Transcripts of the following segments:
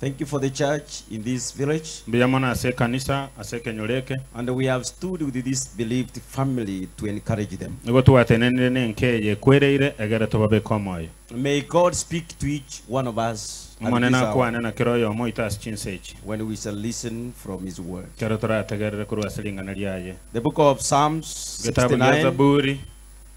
Thank you for the church in this village. Mbuya mono ase ekanisa ase ekenyoro eke. And we have stood with this bereaved family to encourage them. Nigo twatenenire n'enka eye ekwereire egere tobabeke omoyo. May God speak to each one of us at Omonene this hour akwane na kera oyomo oito ase chinsa echi, when we shall listen from his word. ekero torategerere korwa ase ring'ana riaye. The book of Psalms Getabu gia 69, Zaburi,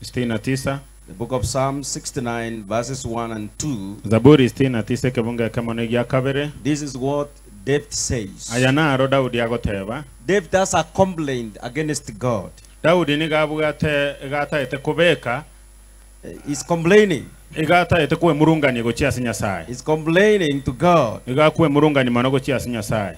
sitini na tisa. The Book of Psalms 69 verses 1 and 2. Zaburi sitini na tisa ekebungo ekemo na egia kabere. This is what David says. Aya naro Daudi agoteba. David has a complaint against God. Daudi nigo abwate iga ataete kobeka, Uh, He's complaining. iga ataete kwemurungania gochia ase Nyasae. He's complaining to God. Nigo akwemurungania mono gochia ase Nyasae.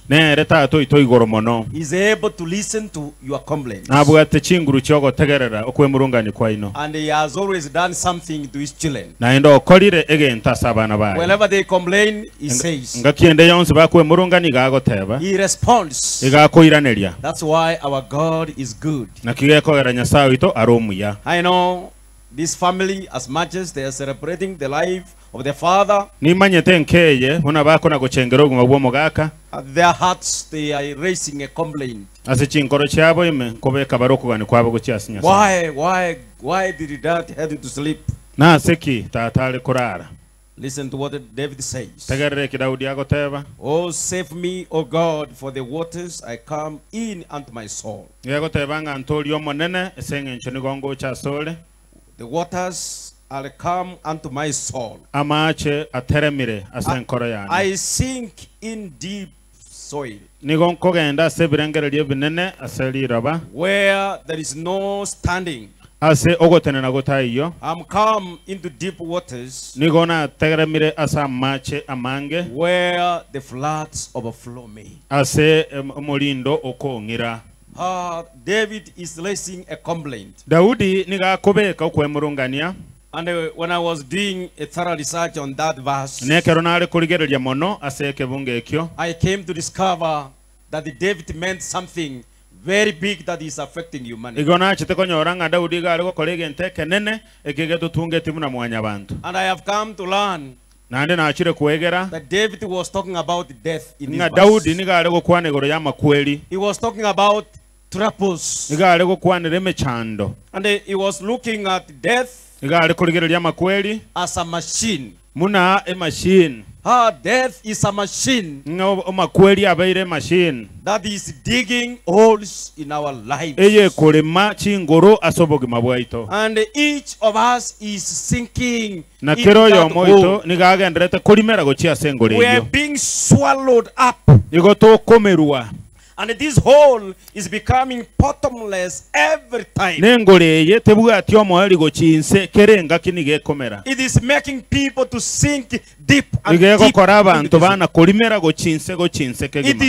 Nere Tata oito igoro mono. Is able to listen to your complaints. Nabwate chinguru chi'ogotegerera okwemurungania kwaino. And he has always done something to his children. Naende okorire egento ase abana baye. Whenever they complain, he says. Engaki ende yonsi bakwemurungania iga agoteba. He responds. Iga akoiraneria. That's why our God is good. Naki gekogera Nyasae oito are omuya. I know this family as much as they are celebrating the life of the Father. Nimanyete enka eye, buna bako na gochengera obogima bw'omogaka. At their hearts they are raising a complaint. Ase chinkoro chiabo ime nkobeka bare okogania kwabo gochia ase Nyasae. Why, why, why did Dad had to sleep? Nase ki tata are korara? Listen to what David says. Tegerera eki Daudi agoteba. Oh, save me, O God, for the waters are come in unto my soul. Nigo egoteba ng'a, Ntoorie Omonene, ase engencho nigo ngocha asore. The waters are come unto my soul. Amaache ateremire ase enkoro yane. I sink in deep soil. Nigo nkogenda ase ebirengererio ebinene ase riroba. Where there is no standing. Ase ogotenena gotaiyo. I am come into deep waters. Nigo nateremire ase amaache amange. Where the floods overflow me. Ase omorindo okong'ira. Haa, David is raising a complaint. Daudi nigo akobeka okwemurungania. And when I was doing a thorough research on that verse. Na ekero nare korigereria mono ase ekebungo ekio. I came to discover that David meant something very big that is affecting humanity. Igo nachete konyora ng'a Daudi igo are gokora egento ekenene eke getotungeti buna mwanyabanto. And I have come to learn Naende nachire kwegera that David was talking about death in this ng'a Daudi verse. nigo are gokwana igoro y'amakweri, He was talking about troubles. nigo are gokwanera emechando, And he he was looking at death nigo are korigereria amakweri as a machine. buna emashini, Ah, death is a machine ng'a o- amakweri abeire emashini that is digging holes in our lives. eyekorema chinguru ase obogima bwaito. And each of us is sinking Na kera oyomo oito nigo agenderete korimera gochia ase engoro eyio, nigo tokomerwa, na engoro eye tebwati omoeri gochia inse, kera engaki nigo ekomera. Nigo egokora abanto bana korimera gochia inse gochia inse kegima.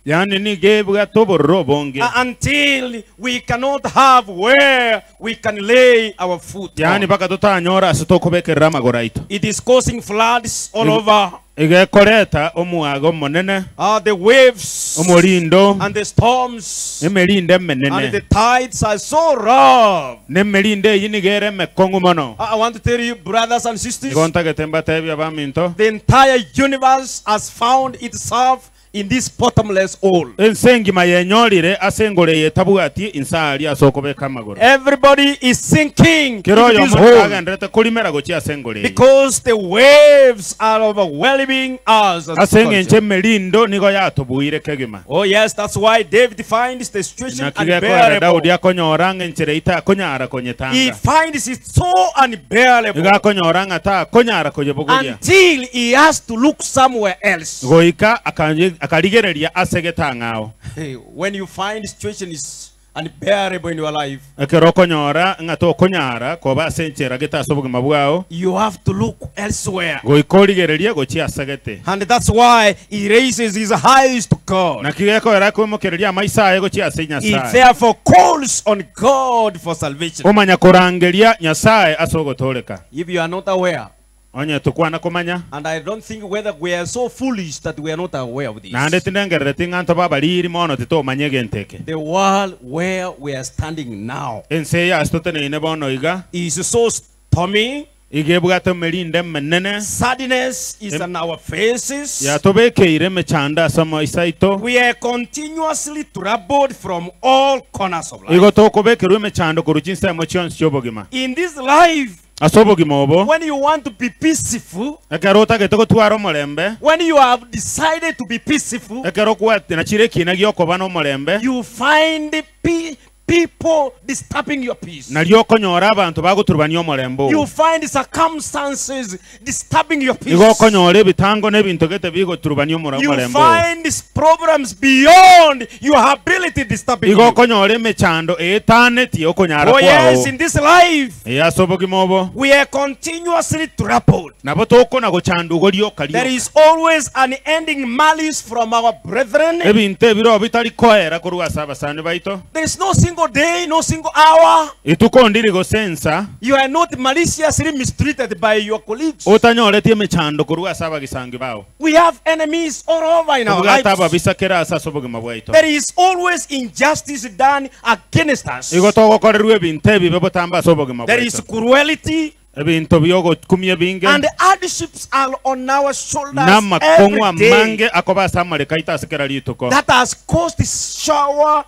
Yaani nigo ebwate obororo obonge. uh, until we cannot have where we can lay our foot. Yaani on. mpaka totanyora ase tokobekerera amagoro aito. It is causing floods all Eg- over. Iga ekoreta omwaga omonene, Uh, the waves omorindo, and the storms emerinde and the emenene. tides are so rough. Na emerinde eyi nigo ere emekong'u mono. I I want to tell you, brothers and sisters, Nigo ntagete mbatebie abaminto, the entire universe has found itself in this bottomless hole. Ense engima yenyorire ase engoro eye etabwati inse aaria ase okobeka amagoro. Everybody is sinking Kera into this oyomo nigo hole agenderete korimera gochia ase engoro eye. because the waves are overwhelming us. as Ase engencho culture. emerindo nigo yatobuire kegima. Oh yes, that's why David finds the situation Naki gekorera Daudi unbearable. akonyora ng'a enchera eye takonyara He konyetanga. finds it so unbearable iga akonyora ng'a takonyara koyebogoria, until he has to look somewhere else. goika akanye- akarigereria ase egetang'ao. Hey, When you find situation is unbearable in your life, Ekero okonyora ng'a tokonyara koba ase enchera gete ase obogima bwao, you have to look elsewhere. goika origererie gochia ase gete. And that's why He raises his eyes to God. Naki gekorera akoimokereria amaiso aye gochia ase He Nyasae. therefore calls on God for salvation. Omanya korangeria Nyasae ase ogotooreka. If you are not aware, Onye tokwana komanya, and I don't think whether we are so foolish that we are not aware of naende this, tindengerereti ng'a ntobe abariiri mono titomanya egento eke. the world where we are standing now Ense eye ase toteneine bono iga, is so Tomi, iga ebwate emerinde emenene. Sadness is on our faces. Yatobekeire emechando ase amaiso aito. We are continuously troubled from all corners of life. Igo tokobekerwa emechando korwa chinsemo chionsi chi'obogima. In this life, Ase obogima obo, when you want to be peaceful, ekero otagete gotwara omorembe, when you have decided to be peaceful, ekero kwatira chire ekiina gi'okoba nomorembe, you find pe- people disturbing your peace. Nario okonyora abanto bagoturubania omorembe oo. You find circumstances disturbing your peace. Nigo okonyora ebitango na ebinto gete bigoturubania omora- You omorembe oo. find s- problems beyond your ability disturbing Nigo you. okonyora emechando eetaneti okonyara Oh yes, kwao. in this life Ee, ase obogima obo. we are continuously troubled. Nabo tokona gochandugwa rioka There rioka. is always unending malice from our brethren. Ebinto ebirobio bitari koera korwa ase abasani baito. There is no single day, no single hour Rituko ondiri gose ensa you are not maliciously mistreated by your colleagues. otanyoreti emechando korwa ase abagisangi bao. We have enemies all over in our Tobwate lives. ababisa kera ase ase obogima bwaito. There is always injustice done against us. Igo togokorerwa ebinto ebibe botambe ase obogima There is bwaito. cruelty. ebinto bi'ogokumia ebinge, and the hardships are on our na shoulders amakong'u every day amange akoba ase amariko aito ase kera rituko. that has caused sore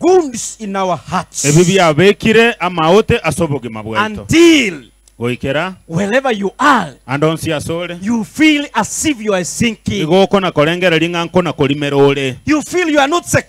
wounds in our hearts. Ebi biabekire amaote ase obogima bwaito, Until goikera wherever you are, ande onsi ase ore, you feel as if you are sinking. igo okona-korengereria ng'a nkona-korimera ore. You feel you are not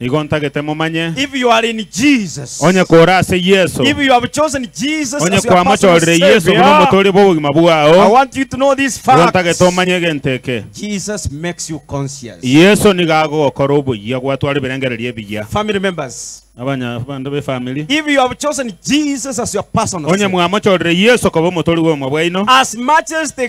Nigo ntagete momanye. If you are in Jesus. Onye kore ase Yeso. If you have chosen Jesus Onye as your personal kwamachorire Yeso buna Savior. omotoria bw'obogima I bwao. want you to know this Nigo fact. ntagete omanye egento eke. Jesus makes you conscious. Yeso nigo agogokora oboyia gwatwara ebirengererio ebiya. Family members, Abanya abande b'efamiri. if you have chosen Jesus as your personal Onye Savior, mwamochorire Yeso koba omotoria bw'obogima bwaino. as much as the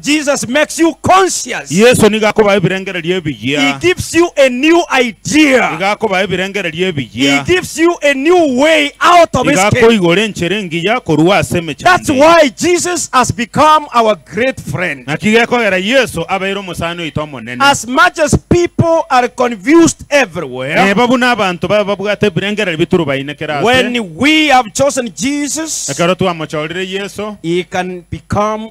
Jesus makes you conscious. Yeso nigo akobaha ebirengererio He ebiya. gives you a new Igo idea. akobaha ebirengererio He ebiya. gives you a new way out of Igo escape. akoigora enchera engiya korwa ase That's emechando eye. why Jesus has become our great friend. Naki gekogera Yeso abeire omosani oito omonene. As much as people are confused everywhere, Neba buna abanto babe babwate ebirengererio bituru bainekera ase. when we have chosen Jesus, Ekero twamochorire Yeso, He can become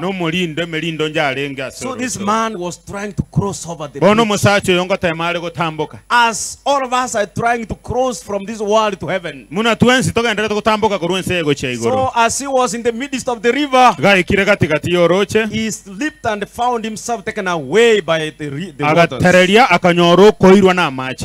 nomorindo emerindo onde arenge ase orosio. Bono omosacha oyo ngoteema are gotamboka. Buna twensi togendererete gotamboka korwa ense eye gochia igoro, gaikire gati-gati y'orooche, agatereria, akanyora okoirwa namache.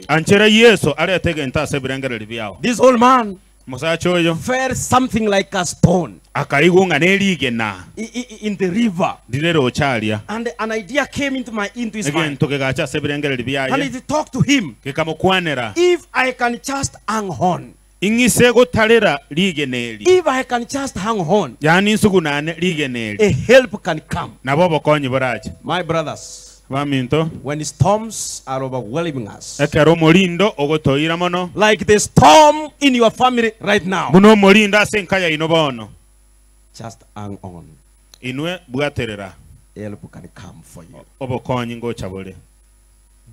Anchera Yeso arete egento ase ebirengererio biao. This old man Omosacha oyo fell something like a stone akaigwa ng'a nerigena i- i- i- in the river, rire roche aria, and an idea came into my into his mind, egento kegacha ase ebirengererio and biaye it talked to him. gekamokwanera. If I can just hang on, Ing'ise gotarera rigena eri. If I can just hang on. Yaani nsugunane rigena eri. A help can come. Nabo obokonyi borache. My brothers. Baminto. When storms are overwhelming us. Ekero omorindo ogotoira mono. Like the storm in your family right now. Buna omorindo ase enka yaino bono. Just hang on. Inwe bwaterera. Help can come for you. Obokonyi ngocha bore.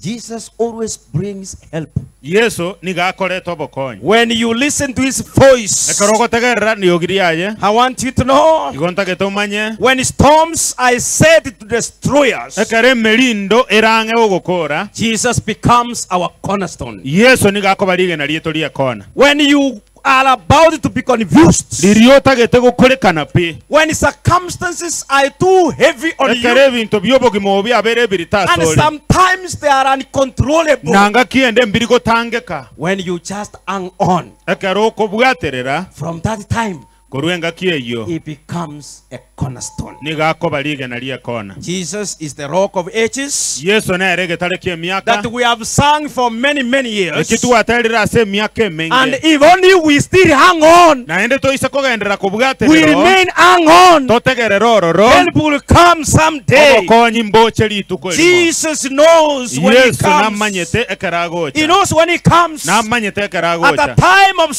Jesus always brings help. Yeso nigo akoreta obokonyi. When you listen to his voice. Ekero ogotegerera riogi riaye. I want you to know. Igo ntagete omanye. When storms are said to destroy us. Ekero emerindo erang'e gogokoora. Jesus becomes our cornerstone. Yeso nigo akoba rigena rieto ri'ekona. When you are about to be confused. Riria otagete gokurekana pi. When circumstances are too heavy on Ekero you ebinto bi'obogima obo biabeire ebirito and asore, sometimes they are uncontrollable. na ngaki eyende mbiri gotangeka. When you just hang on. Ekero okobwaterera. From that time. Korwa engaki eyio He becomes a cornerstone. nigo akoba rigena ri'ekoona. Jesus is the Rock of Ages Yeso nere egetare ki'emiaka, that we have sung for many, many years. eki twaterire ase emiaka And emenge, if only we still hang on, naende toise kogenderera kobwate we rero, remain hang on, totegerere ororo, help will come someday. obokonyi mboche rituko erimo. Jesus knows when he Yeso comes. namanyete ekero He agocha, knows when he comes. namanyete ekero At the agocha. time of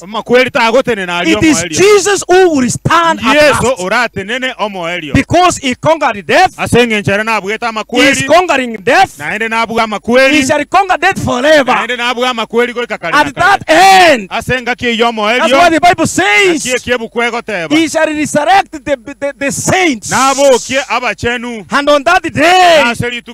Amakweri tagotenena aria It is omoerio. Jesus who will stand at Yeso last. oratenene omoerio. Because he conquered death, Ase engencho ere nabwete he is amakweri, conquering death, naende nabue he amakweri, shall conquer death forever. naende nabue amakweri goika kare na At kare. that end, Ase engaki eyio that's why omoerio, the Bible naki says, eki ebuku egoteba, he shall resurrect the, the, the saints. nabokie abachenu, And on that na day, ase rituko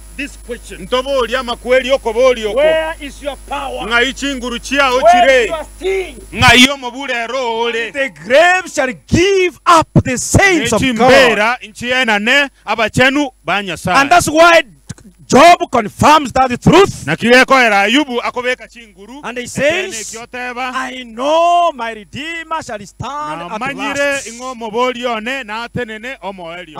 Ntoborie amakweri okoboria oko, Ng'ai chinguru chiao chire? Ng'ai omobura ero ore? Ne chimbeera nchienane abachenu ba Nyasae. Naki gekoera Ayubu akobeka chinguru ekeene eki oteba, Namanyire ing'o omoboria one natenene omoerio.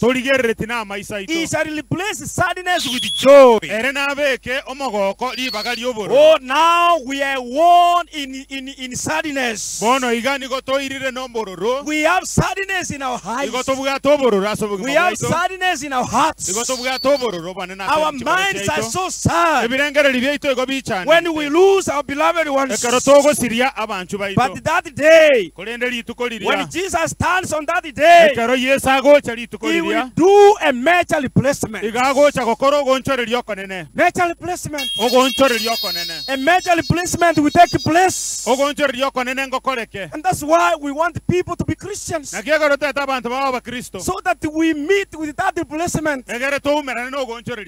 Torigerereti namaiso aito. He shall replace sadness with joy. Ere nabeke omogooko ribaga ri'obororo. Oh, now we are worn in, in, in sadness. Bono iga nigo toirire nobororo. We have sadness in our eyes. Igo tobwate obororo ase obogima bwaito. We have sadness in our hearts. Igo tobwate obororo bwanene ase Our minds are so sad. Ebirengererio biaito igo bichaanete. When we lose our beloved ones. Ekero togosiria abanchwa baito. But that day. Korende rituko riria, When Jesus stands on that day, ekero Yeso agocha rituko he riria, will do a major replacement. iga agocha gokora ogoonchoreria okonene, Major replacement. ogoonchoreria okonene, A major replacement will take place. ogoonchoreria okonene ngokoreke. And that's why we want people to be Christians. Naki ekero toete abanto baba Abakristo, So that we meet with that replacement. egere twaumerane na ogoonchoreria.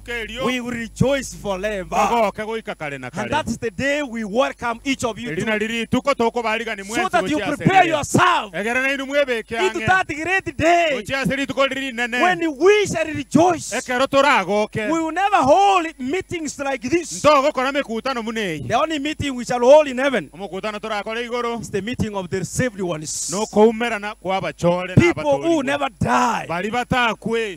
kerio kegooke goika kare na kare. Eri nario rituko tokobaarigania mwensi gochia ase rire, egerera nainwe mwebeke ang'e gochia ase rituko riria rinene, ekero toragoke. Ntogokora mekutano buna eye. Omokutano torakore igoro nokoumerana kw'abachore na abatoorigwa baria batakwe.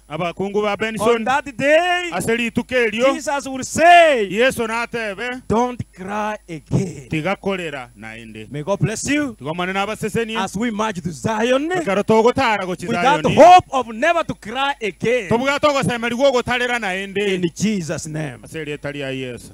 abakungu ba Benson ase rituko erio, Yeso natebe, Tiga korera naende. Tiga Omonene abasesenie. Ekero togotara gochia Zayoni, tobwate ogoseemerigwa ogotarera naende, ase erieta ria Yeso.